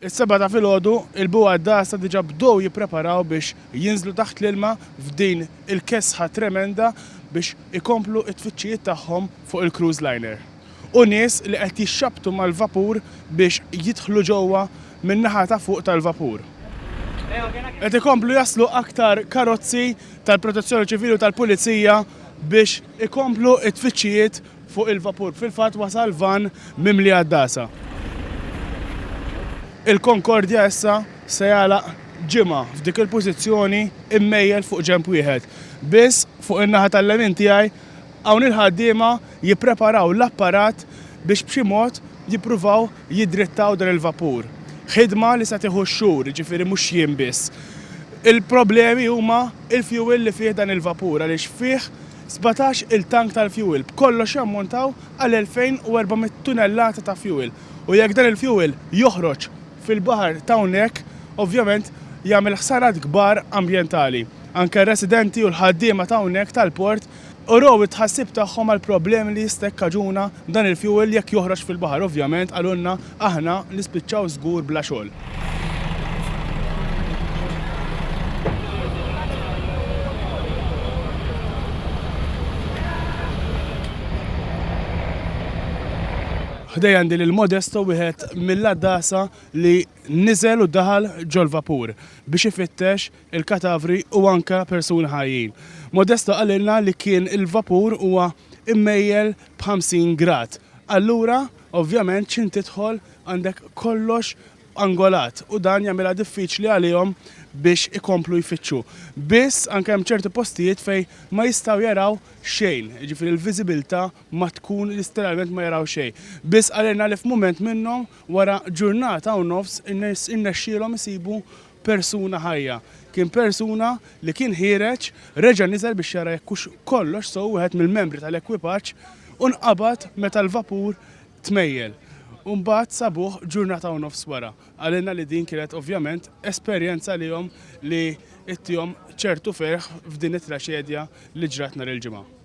Is-Sebgħa ta' filgħodu, il-bugħ għad-dgħasa diġà bdew jippreparaw biex jinżlu taħt l-ilma f'din il-kesħa tremenda biex ikomplu t-tfittxijiet tagħhom fuq il-cruise liner. U nies li qed jixxabbtu mal-vapur biex jidħlu ġewwa min-naħa ta' fuq tal-vapur. Qed ikomplu jaslu aktar karozzi tal-Protezzjoni Ċivili u tal-Pulizija biex ikomplu t-tfittxijiet Fuq il-vapur fil-fatt wasal vann mimli għaddasa. Il-Concordia issa se jagħlaq ġimgħa f'dik il-pożizzjoni mmejjel fuq ġenb wieħed. Biss, fuq in-naħa tal-lemin tiegħi, hawn il-ħaddiema jippreparaw l-apparat biex b'xi mod jippruvaw jiddrittaw dan il-vapur. Ħidma li se tieħu x-xhur, jiġifieri mhux jiem biss. Il-problemi huma l-fjuwil li fih dan il-vapur għaliex fih Sbatax il-tank tal-fjuwil b'kollox jammontaw għal 2,400 tunellata ta' fjuwil u jekk dan il-fjuwil joħroġ fil-baħar t'hawnhekk ovvjament jagħmel ħsarat kbar ambjentali. Anke r-residenti u l-ħaddiema t'hawnhekk tal-port urew it-tħassib tagħhom għall-problemi li jista' jikkaġuna dan il-fjuwil jekk joħroġ fil-baħar ovvjament qalulna Aħna nispiċċaw żgur bla xogħol. Ħdejja għandi lil Modesto wieħed mill-għaddasa li niżel u daħal ġol-vapur biex ifittex il-katavri u anka persuni ħajjin. Modesto qalilna li kien il-vapur huwa immejjel b'50 grad. Allura Ovvjament x'int tidħol għandek kollox angolat u dan jagħmilha diffiċli għalihom biex ikomplu jfittxu. Biss anke hemm ċerti postijiet fejn ma jistgħu jaraw xejn, jiġifieri l-viżibilità ma tkun litteralment ma jaraw xejn. Biss qalilna li f'mument minnhom wara ġurnata u nofs irnexxielhom isibu persuna ħajja. Kien persuna li kien ħiereġ, reġa' niżel biex jara jekk hux kollox sew wieħed mill-membri tal-ekwipaġġ u nqabad meta l-vapur tmejjel. U mbagħad sabuh ġurnata u nofs wara. Qalilna li din kienet ovvjament esperjenza lihom li ittihom ċertu ferħ f'din it-traċedja li ġrat nhar il-Ġimgħa.